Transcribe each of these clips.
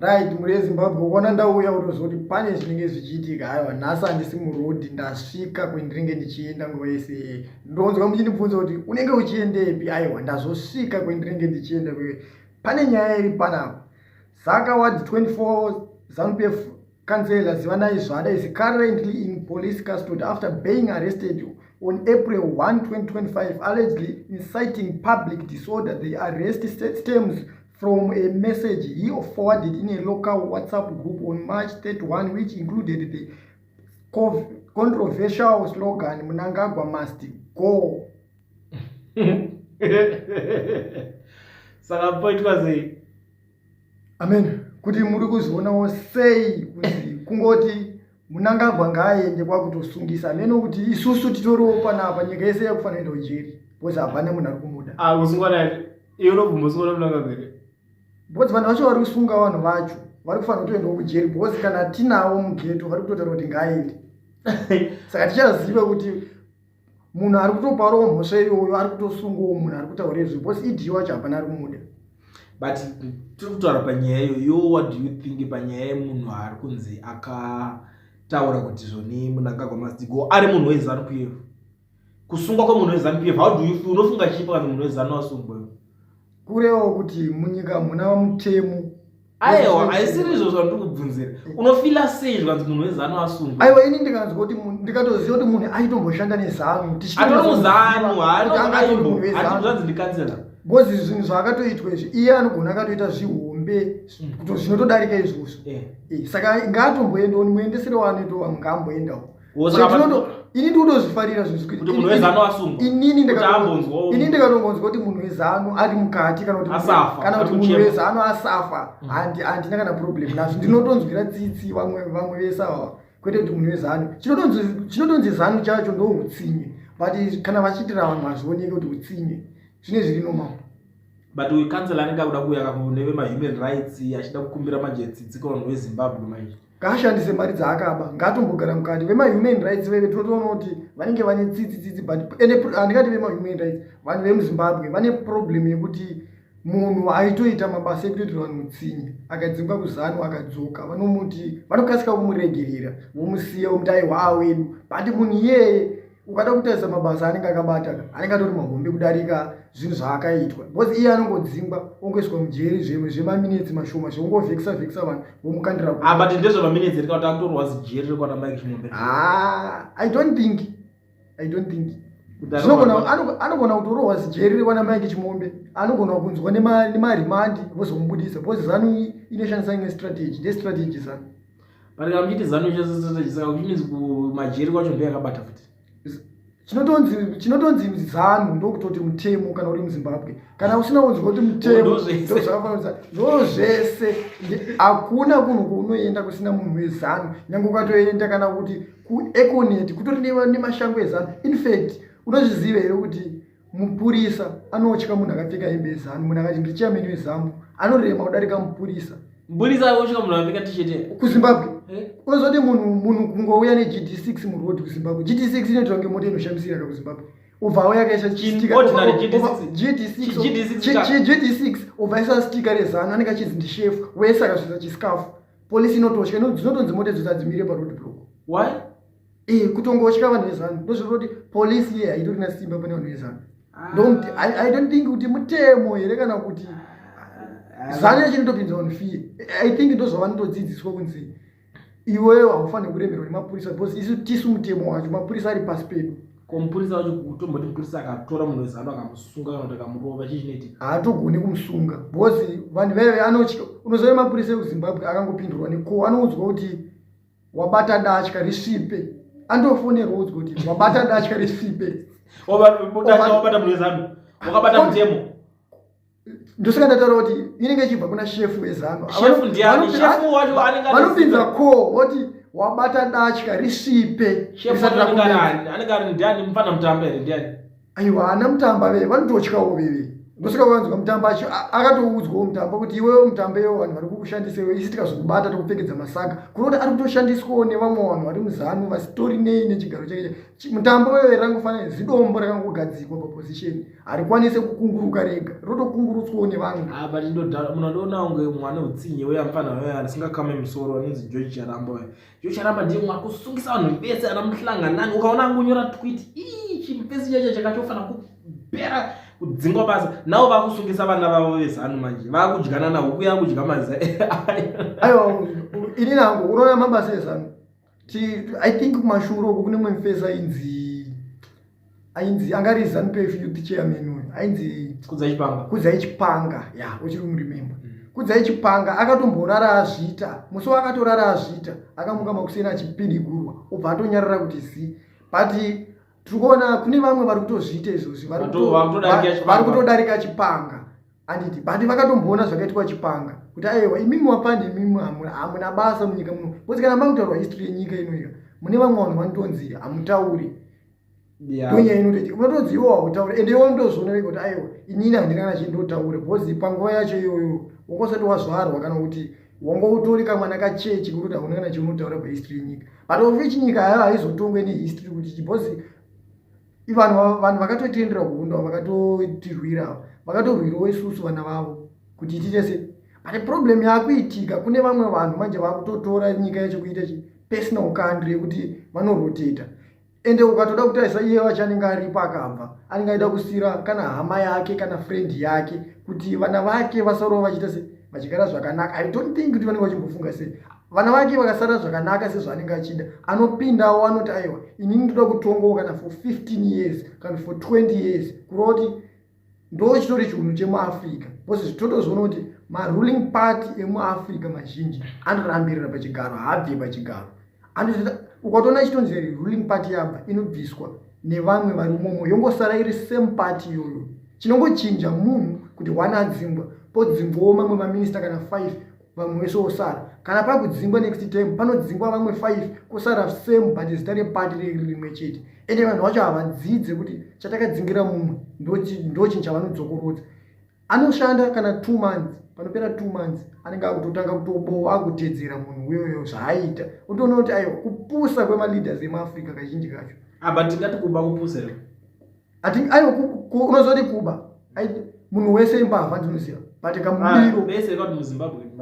right mhuri yezimbabwe ukaona ndauya unoziva kuti pane zvinenge zvichiitika aiwa nhasi handisi murodi ndasvika kwendinenge ndichienda nguva yese yeye ndonzwa muchindibvunza kuti unenge uchiendepi aiwa ndazosvika kwendinenge ndichienda kuye pane nyaya iri panapa saka wad 24 zanupf kansela zivanai zvada is currently in police custody after being arrested on april 1 2025 allegedly inciting public disorder the arrest stems from a message he forwarded in a local whatsapp group on march 31 which included the controversial slogan munangagwa must go saka poitwa sei amen kuti muri kuzvionawo sei kuti kungoti munangagwa ngaaende kwakutosungisa hameno kuti isusu titoriwo panapa nyika yese yakufanira kuenda kujeri bcause hapana munhu ari kumuda ah, bcause vanhu vacho vari kusunga vanhu vacho vari kufanira kutoendawo kujeri bcause kana tinawo mugeto vari kutotaura kuti ngaaende saka tichaziva kuti munhu ari kutoparwa mhosva iyoyo ari kutosungwawo munhu ari kutaura izvo bcause idi wacho hapana ari kumuda but tiri kutaura panyaya iyo yo what do you think panyaya yemunhu ari kunzi akataura kuti zvoni munangagwa masigo ari munhu wezanu kuyevo kusungwa kwemunhu wezanu kuyevo how do you feel unofunga chipo kana munhu wezanu asungwa kurewo kuti munyika hamuna mutemo aiwa haisiri izvo zvandiri kubvunzira unofila sei zvikanzi munhu wezanu asungwa aiwa ini ndikanzwa kuti ndikatoziva kuti munhu aitomboshanda nezanu tichiatomuzanu haatozvanzi ndikansela bcause zvinhu zvaakatoitwa izvi iye anogona akatoita zvihombe hmm. kuto zvinotodarika izvozvo eh. Eh, saka ngaatomboendawo nimuendesere waanoitawo ngamboendawo ini ndinotozvifarira zvinzwinini ndikatongonzwa kuti munhu wezano ari mukati kana kuti munhu wezano asafa mm. handina kana problem nazvo ndinotonzwira tsitsi vamwe vese ava kwete kuti munhu wezano chinotonzi zano chacho ndo utsinye but kana vachiitira vanhu hazvioneke kuti utsinye zvine zviri normal but uyu kansela anenge akuda kuuya kakuneve mahuman rights achida kukumbira manje tsitsi kavanhu vezimbabwe maizvi ngaashandise mari dzaakaba ngaatombogara mukati vemahuman rights veve tinotoona kuti vanenge vane tsitsi tsitsi but handingati vemahuman rights vanhu vemuzimbabwe vane problem yekuti munhu aitoita mabasa ekutoitira vanhu mutsinye akadzingwa kuzanu akadzoka vanomuti vanokasika kumuregerera vomusiya vomuti aiwa wedu but munhu iyeye ukada kutarisa mabasa anenge akabata anenge atori mahombe kudarika zvinhu zvaakaitwa because iye anongodzingwa ongoiswa mujeri zvimwe zvemaminetsi mashoma zvekungovhekisa vhekisa vanhu vomukandira ah, but ndezvemaminetsi rika kuti akutorwa zijeri rekwana mike chimombe ah, i don't think i don't think anogona kutorohwa zijeri rekwana mike chimombe anogona kunzwa nemarimandi vozomubudisa because zanu inoshandisa imwe strategy ndestrategy zanu but kana muchiti zanu ichasesese chisaka which means kumajeri kwacho ndo yakabata futi chinotonzi chinotonzi zanu ndokutoti mutemo kana uri muzimbabwe kana usina kunzwa kuti mutemo ndozvakafananisa ndo zvese hakuna kunhu kwaunoenda kusina munhu wezanu nyange ukatoenda kana kuti kueconet kutori nemashango ezanu infact unozviziva here kuti Mupurisa anotya munhu akapfeka hembe yezanu munhu akati ndichairman wezambu anorema kudarika mupurisa Mupurisa anotya munhu akapfeka t-shirt here? kuzimbabwe Eh? unozoti munhu munhu kungouya negd6 muroad kuzimbabwe gd6 inoitwa kunge mota inoshamisira ka kuzimbabwe ubva auya akaisa Chin- ordinary GD6. GD6 ka. gd6 ubva aisa stika rezano anenge achinzi ndishefu wese akazvisa chisikafu polisi inotosha ino- dzinotonzi mota idzo dzadzimire paroad block Why? Eh, kutongotya vanhu vezanu ndozviri kuti polisi iye haitori na simba pane vanhu vezanu ah. ndomuti i don't think kuti mutemo here kana kuti ah. zanu yacho inotopinza vanhu fiye i think ndozvavanotodzidziswa kunzi iwewo haufanire kuremerwa nemapurisa because isu tisu mutemo wacho mapurisa ari pasi pedu ko mupurisa wacho kutomboti mupurisa akatora munhu wezanu akamusunga kana kuti akamurova chii chinoiti haatogoni kumusunga because vanhu vaive anotya unoziva mapurisa ekuzimbabwe akangopindurwa neko anoudzwa kuti wabata datya risipe andofonerwa udzwa kuti wabata datya risipe wabata mune zanu wakabata mutemo ndosaka ndataura kuti inenge ichibva kuna shefu wezanu vanopinza ko voti wabata datya risipe anenge ari ndiani mufana mutambo here ndiani aiwa ana mutamba vee vanototyawo veve ndosaka vanzwa mutamba acho akatoudzwawo mutamba kuti iwewo mutamba iwo vanhu vari kukushandisa iwe isi tikazokubata tokupfekedza masaka kunoda ari kutoshandiswawo nevamwe vanhu vari muzanu vasitori nei nechigaro chake mutamba weve rangofanira zidombo rakangogadzikwa paposition harikwanise kukunguruka rega rotokungurutswawo nevamwe ah, but ndoda munhu andoona kunge mwana utsinye uye amfanha asingakamwe musoro anonzi george charamba yocharamba ndiye mwari kusungisa vanhu vese ana muhlanganani ukaona angonyora twit ii chimupesi chacho chakachofana kupera kudzingwa basa navo vakusungisa vana vavo vezanu manje vakudyana na huku yakudya maza aiwa ini nangu unoona mabasa ezanu i think kumashuro uku kune mumfesa inzi ainzi anga ari zanu pf youth chairman uyu ainzi kudzai chipanga ya uchiri kumurememba mm. kudzai chipanga akatomborara azviita musi waakatorara azviita akamuka makuseni achipidigurwa obva atonyarara kuti zi but tiri kuona kune vamwe vari kutozviita izvozvi vari kutodarika chipanga handiti but vakatomboona zvakaitwa chipanga kuti aewa imimi wapandi imimi hamuna basa munyika muno bcause kana makutaurwa history yenyika inoika mune vamwe vanhu vanotonzi hamutauri tonya inotoiti unotonzi iwo hautaure ende iwo ndozviona vega kuti aewa inini handina kana chii ndotaure bcause panguva yacho iyoyo wangosati wazvarwa kana kuti wanga utori kamwana kachechi kuri kuti hauna kana chiunotaura pahistory yenyika but ofichinyika yayo haizotongwe nehistory kuti bcause ivanhu vanhu vakatotiendera kuhondo avo vakatotirwira avo vakatorwirawo isusu vana vavo kuti itiite sei but problem yakuitika kune vamwe vanhu manje vakutotora nyika yacho kuita chi personal country yekuti vanoroteta ende ukatoda kutarisa iye vacho anenge aripo akabva anenge aida kusira kana hama yake kana friend yake kuti vana vake vasarowo vachiita sei vachigara zvakanaka i don't think kuti vanenge vachimbofunga sei vana vake vakasara zvakanaka sezvaanenge achida anopindawo anoti aiwa ini ndinoda kutongawo kana for 15 years kana for 20 years kureva kuti ndo chitori chiunhu chemuafrica bcause zvitotozoona kuti maruling party emuafrica mazhinji anorambirira pachigaro haabve pachigaro ukatoona chitonzi ruling party yabva inobviswa nevamwe vari umomo yongosara iri same party iyoyo chinongochinja munhu kuti one adzingwa podzingwawo mamwe maminista kana five vamwe vese vosara kana pakudzingwa next time panodzingwa vamwe five kosara same but zita repati riri rimwe chete ende vanhu vacho havadzidze kuti chatakadzingira mumwe ndochinhu chavanodzokorodza anoshanda kana two months panopera two months anenge akutotanga kutobowa akutedzera munhu uyoyo zvaaita utoona kuti aiwa kupusa kwemaleaders emuafrica kazhinji kacho aba ah, tingati kuba kupusa ati aiwa unozoti kuba munhu wese imbavha ndinoziva but kamubiro ah,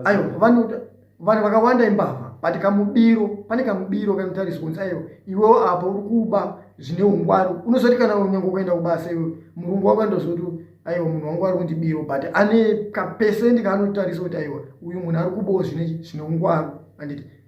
aiwa vanhu vakawanda imbavha but kamubiro pane kamubiro kanotariswa kunzi aiwa iwewo apo uri kuba zvine ungwari unozoti kana unyange kuenda kubasa iwe murungu wako andozoti aiwa munhu wangu ari kundi biro but ane kapesendi kaanotarisa kuti aiwa uyu munhu ari kubawo zvine ungwari anditi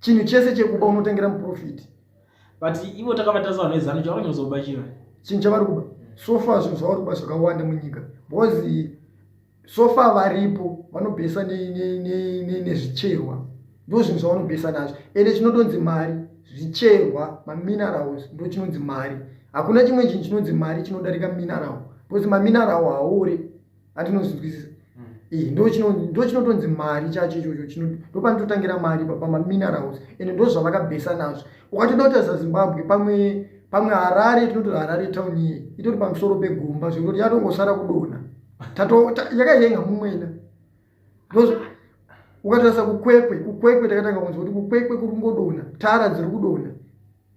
chinhu chese chekuba unotengera muprofiti but ivo takavatasa vanhu vezanu chavanyozoba chiva chinhu chavari kuba so far zvinhu zvavari kuba zvakawanda munyika because so far varipo vanobhesa nezvicherwa ne, ne, ne, ndo zvinhu zvavanobhesa nazvo ende chinotonzi mari zvicherwa maminerals ndo chinonzi mari hakuna chimwe chinhu chinonzi mari chinodarika mineral because maminerawo haore atinozvinzwisisa mm. ndochinotonzi mari chacho ichocho chino ndopanototangira mari pamaminerals ende ndo zvavakabhesa nazvo ukatoda kutarisa zimbabwe pamwe pamwe harare tinoti harare town iye itori pamusoro pegomba zvekutoti yatongosara kudona yakaiyenga mumwena because ukatarisa kukwekwe kukwekwe takatanga kunzwa kuti kukwekwe kuri kungodona tara dziri kudona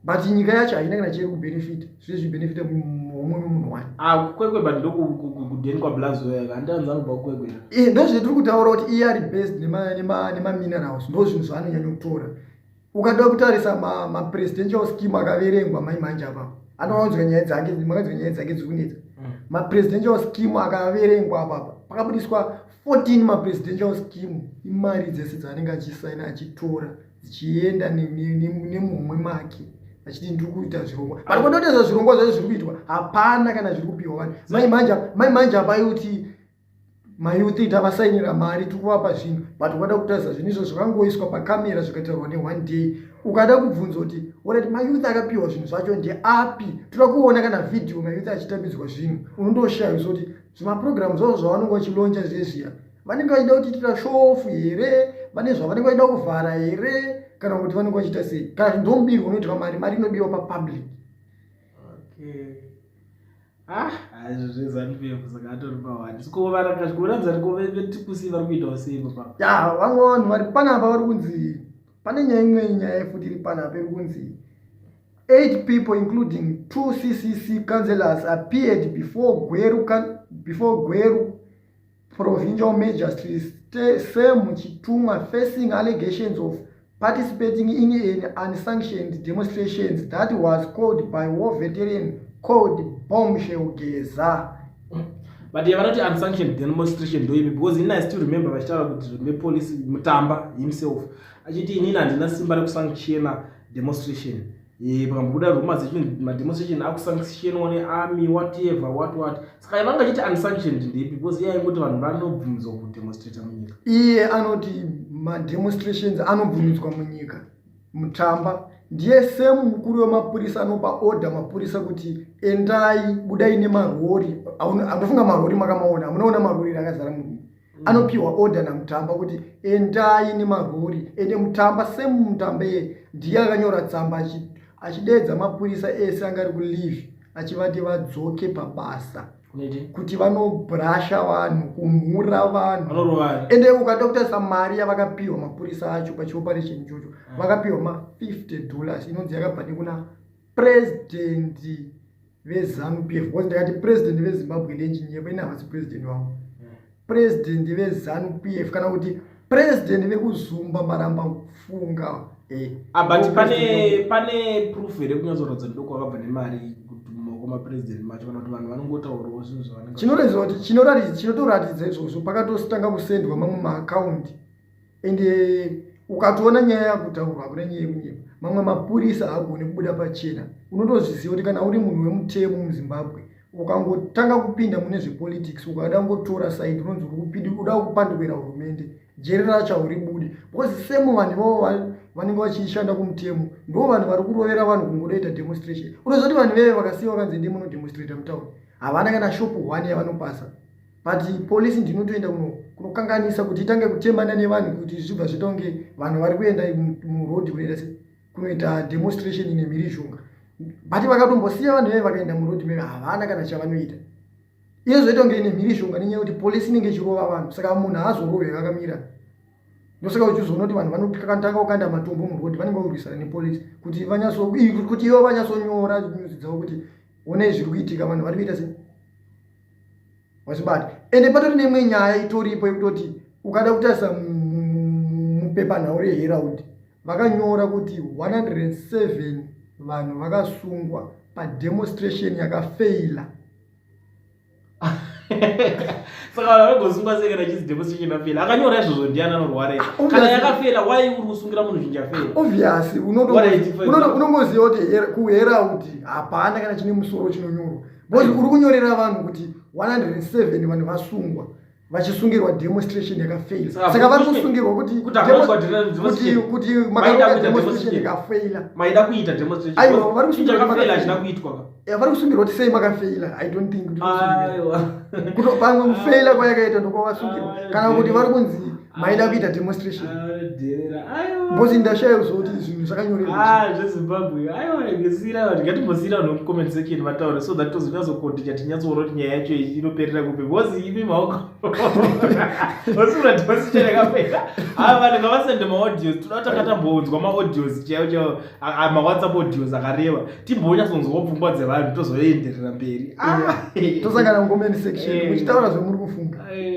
but nyika yacho haina kana chiri kubenefita zviri zvibenefita homwe munhu wani ah, kukwekwe but ndokudeni kwablazoyaka handianzani kubva kukwekwe eh, ndozvitiri kutaura kuti iye ari based nemaminerals ndozvinhu zvaanonyanya kutora ukada kutarisa mapresidential ma scheme akaverengwa mai manje apa anowanzwa nyaya dzake makanzwa nyaya dzake dziri kunetsa mm. mapresidential scheme akaverengwa apapa pakabudiswa 14 mapresidential scheme imari dzese dzaanenge achisaina achitora dzichienda nemumwe make achiti ndiri kuita zvirongwa but kondoteza zvirongwa zvacho zviri kuitwa hapana kana zviri kupiwa vanhu mai manje apa yoti mayouth tavasainira mari tiri kuvapa zvinhu but ukada kutarisa zvinhu izvo zvakangoiswa pacamera zvikatarwa neone day ukada kubvunza kuti orati mayouth akapiwa zvinhu zvacho ndeapi toda kuona kana vhidhiyo mayouth achitambidzwa zvinhu unondoshaya zvo kuti zvimaprogramu zvavo zvavanonge vachilonja zvezviya vanenge vachida kutiitira shofu here vane zvavanenge vachida kuvhara here kana kuti vanenge vachiita sei kana zvinhu zvomudirwa unoitwa mari mari inodiwa papublic okay. Ah, vamwe vanhu vari panapa vari kunzi pane nyaya imwe nyaya yefuti iri panapa iri kunzi eight people including two ccc councellors appeared before gweru before gweru Provincial Magistrates same chitumwa facing allegations of participating in an unsanctioned demonstrations that was called by war veteran called bombshell geza but ye vanoti unsanctioned demonstration ndoimi because ini i still remember vachitaura kuti nepolice mutamba himself achiti inini handina simba rekusanctiona demonstration Eh, pakambobuda rumors echinzi mademonstration akusanctionwa nearmy whatever what what saka yavanga chiti unsanctioned ndepi because iye aingoti vanhu vanobvumidzwa kudemonstrata munyika iye anoti mademonstrations anobvumidzwa munyika mutamba ndiye same mukuru wemapurisa anopa order mapurisa kuti endai budai nemarori anofunga marori makamaona amunoona marori rakazara murume anopiwa order namutamba kuti endai nemarori ende mutamba semutamba iye ndiye akanyora tsamba achideedza mapurisa ese anga ari kulive achivati vadzoke pabasa kuti vanobrasha vanhu kumhura vanhu ende ukada kutarisa mari yavakapiwa mapurisa acho pachioperation ichocho ah. vakapiwa ma 50 dollars inonzi yakabva nekuna president vezanu pf bcause ndakati president vezimbabwe ndechinyepa ini havasi president wangu president vezanu pf kana kuti president vekuzumba maramba kufunga eh, abut pane pane proof here kunyatsoratidza ndidoko wakabva nemari kumapresident macho kana kuti vanhu vanongotaurawo zvinhu zvavanoratidza kuti chinotoratidza izvozvo pakatositanga kusendwa mamwe maakaundi ende eh, ukatoona nyaya yakutaurwa hakuna nyaya yekunyepa mamwe mapurisa haagoni kubuda pachena unotozviziva kuti kana uri munhu wemutemo muzimbabwe ukangotanga kupinda mune zvepolitics ukada ngotora saidi unonzi uri kupindi uda kupandikwera hurumende jeri racho hauri budi bcause semo vanhu ivavo vanenge vachishanda kumutemo ndo vanhu vari kurovera vanhu kungodoita demonstration unozoti vanhu veve vakasiya vakanzi ndi munodemonstrata mutown havana kana shopu one yavanopasa but police ndinotoenda kuno kunokanganisa kuti itange kuchembana nevanhu kuti zvibva zvita kunge vanhu vari kuenda muroad kunoita se kunoita demonstration ine mhirizhonga but vakatombosiya vanhu veve vakaenda muroad meve havana kana chavanoita iye zvoita kunge ine mhirizhonga nenyaya yekuti police inenge ichirova vanhu saka munhu haazorove vakamira ndosaka uchizoona kuti vanhu vanotanga kukanda matombo muroad vanenge vakurwisana nepolice kuti kuti ivo vanyatsonyora nyuzi dzavo kuti onei zviri kuitika vanhu vari kuita sei wazvibata ende patori neimwe nyaya itoripo yekutoti ukada kutarisa mupepanhau reherald vakanyora kuti 107 vanhu vakasungwa pademonstration yakafeila saka vanhu vanogosungwa sei kana chizi demonstration yakafeila akanyora izvozvo ndiani anorware ah, kana yakafeila why uri kusungira munhu zvinji afeila obviously unongoziva kuti kuherald hapana kana chine musoro chinonyorwa because uri kunyorera vanhu kuti 107 vanhu vasungwa vachisungirwa demonstration yakafaila saka vari kusungirwa kutikuti makademonstration yakafaila maida kuita demonstrationaiwa vari kusungirwa kuti sei makafeila i don't think kuti pamwe kufaila kwayakaita ndokwavasungirwa kana kuti vari kunzi maida kuita demonstration because ndashaya kuziva kuti zvinhu zvakanyorezvimbabwe ah, aiwa ngesira vanhu ngatimbosiyira vanhu mucomment section vataure so that tozonyatsokondicha tinyatsoona kuti nyaya yacho inoperera kupi because imi maoko osura demonstration yakapera aa ah, vanhu ngavasende maaudios toda kuti akatambounzwa maaudios chaiwo chaiwo ah, mawhatsapp audios akareva timbonyatsonzwawo pfungwa dzevanhu tozoenderera mberi tosangana mucomment section muchitaura eh. zvemuri kufunga eh.